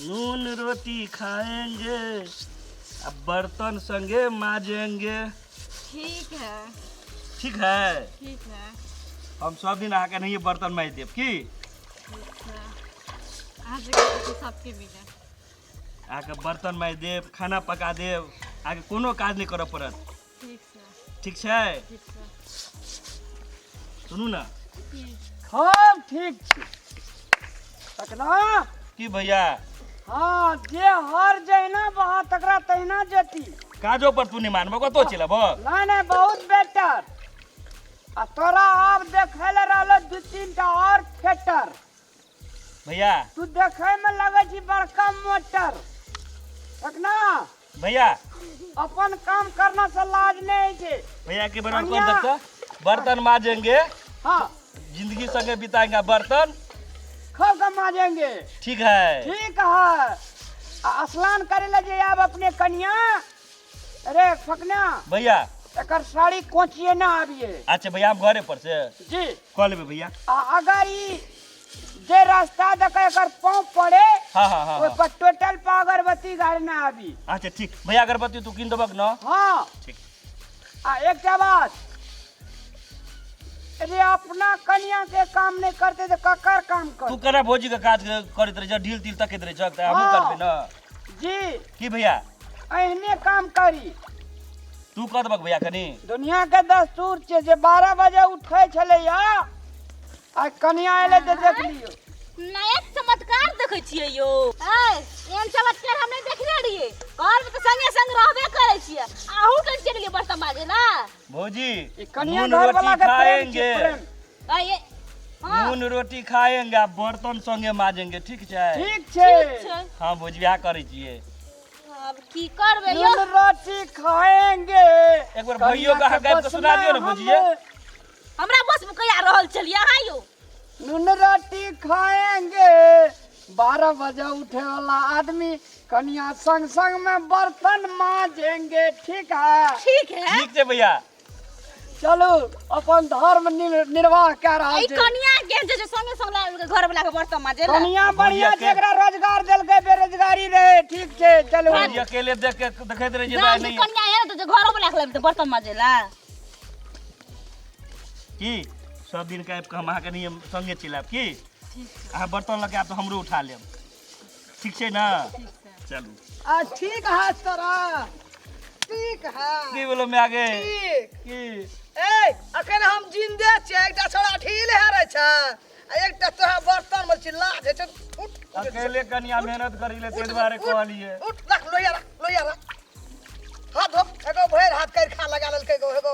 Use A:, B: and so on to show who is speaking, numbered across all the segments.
A: नून रोटी खाएंगे अब बर्तन संगे माजेंगे ठीक है ठीक है ठीक है हम सब दिन आके नहीं ये बर्तन माज देब की ठीक है अहाँ से कहै छी सबके मिले आके बर्तन माज देब खाना पका देब आके कोनो काज नहीं करऽ पड़त ठीक छै सुनू ने हम ठीक छी तकना की भैया हाँ जे हर जहिना बहा तकरा तहिना जेती काजो पर तू नहीं मानबो कतो चल अब नहीं नहीं बहुत बेटर आ तोरा अब देखे ले रहलो दू तीन टा और थिएटर भैया तू देखे में लगे छी बड़का मोटर देखना भैया अपन काम करना से लाज नहीं छे भैया के बना कनिया। कर देता बर्तन माजेंगे हाँ जिंदगी संगे बिताएंगे बर्तन खल के माजेंगे ठीक है ठीक है आ स्नान करे ले जे आब अपने कनिया अरे फकना भैया एकर साड़ी कोचिए ना आबिए अच्छा भैया हम घरे पर से जी कह लेबे भैया आ अगर ई जे रास्ता देखे एकर पाँव पड़े हाँ हाँ हाँ ओहि हाँ। पर टोटल पर अगरबत्ती घर ना आबी अच्छा ठीक भैया अगरबत्ती तू कीन देबक न हाँ ठीक आ एकटा बात अरे अपना कनिया के काम नहीं करते तो ककर काम तू कर केना भौजी के काज करैत रहे छ ढील तिल तकैत रहे छ त हमहूँ हाँ। करबै न जी की भैया एहने काम करी तू कह देबक भैया कनी दुनिया के दस्तूर छै जे बारह बजे उठै छलैया आ कनिया एलै तऽ देख लियौ नया चमत्कार देखै छियै यौ ऐ एहन चमत्कार हम नहि देखने रहियै घरमे तऽ संगे संग रहबे करै छियै आहू के चलि गेलियै बर्तन माजे ना भौजी ई कनिया नून घर रोटी वाला के प्रेम छै खाएंगे प्रेम आ ये हाँ नून रोटी खाएंगे आ बर्तन संगे माजेंगे ठीक छै ठीक छै ठीक छै हाँ बुझिया करै छियै अब की करबे यो नून रोटी खाएंगे एक बार भैयो कहाँ गाबि कऽ सुना दियौ ने बुझिए हमरा बस में कहिया रहल छलिए अहाँ यो नून रोटी खाएंगे बारह बजे उठे वाला आदमी कनिया संग संग में बर्तन माजेंगे ठीक है ठीक है ठीक छै भैया चलू अपन धर्म निर- निर्वाह कए रहल ई छै कनिया के जे संगे संग लायल के घर वाला के बर्तन माजे ला कनिया बढ़िया छै एकरा रोजगार देलकै बेरोजगारी रहे ठीक छै चलू ई अकेले देख के देखैत रहिए जा दाइ जे नहीं कनिया है तो जे घर वाला के लायल के बर्तन माजे ला की सब दिन के आबि के हम अहाँके नहीं संगे चलि आयब की अहाँ बर्तन लऽ के आयब तऽ हमरो उठा लेब ठीक छै ने चलू आ ठीक है तोरा ठीक है की बोलो मैं आगे ठीक की ए अखन हम जिंदे छियै एकटा छोरा ढील हेरे छै आ एकटा तोरा बर्तन में छी लाज हे छै उठ अकेले कनिया मेहनत करी ले ताहि दुआरे कहलिए उठ रख लोहिया रख लोहिया रख हाथ धो एगो भरि हाथ कर खा लगा लेलकै एगो एगो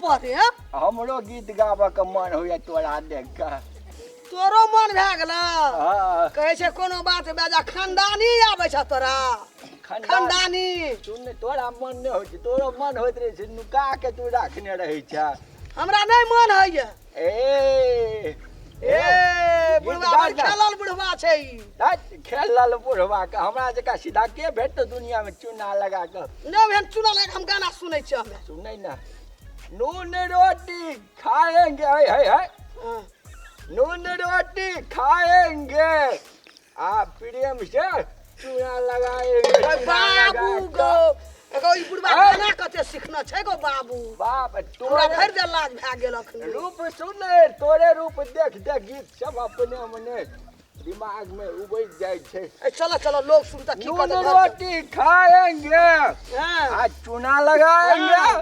A: पढ़े हमरो गीत गाबऽ के मन होइए तोरा देख कऽ तोरो मन भए गेल हँ, कहै छै कोनो बात बेजा खानदानी आबै छ तोरा खंडा- खानदानी सुन ने, तोरा मन नहि होइ छै तोरो मन होइत रहै छै नुका के तू राखने रहै छै हमरा नहि मन होइए ए ए बुढ़वा बड़ खेलल बुढ़वा छै ई हट खेलल बुढ़वा के हमरा जका सीधा के भेट दुनिया में चूना लगा के नहि भेल चुना लगा हम गाना सुनै छी हमे सुनै ना नून रोटी खाएंगे है है है नून रोटी खाएंगे आ प्रेम से चूड़ा लगाएंगे अरे बाबू गो एगो ई बुढ़वा अरे! गाना कते सीखना छै गो बाबू बाप हमरा तोरे भरि दे लाज भए गेल अखन रूप सुन तोरे रूप देख देख गीत सब अपने मने दिमाग में उबज जाए छे ए, चलो चलो लोग सुनता की नून कहते घर रोटी खाएंगे हाँ। आ चूना लगाएंगे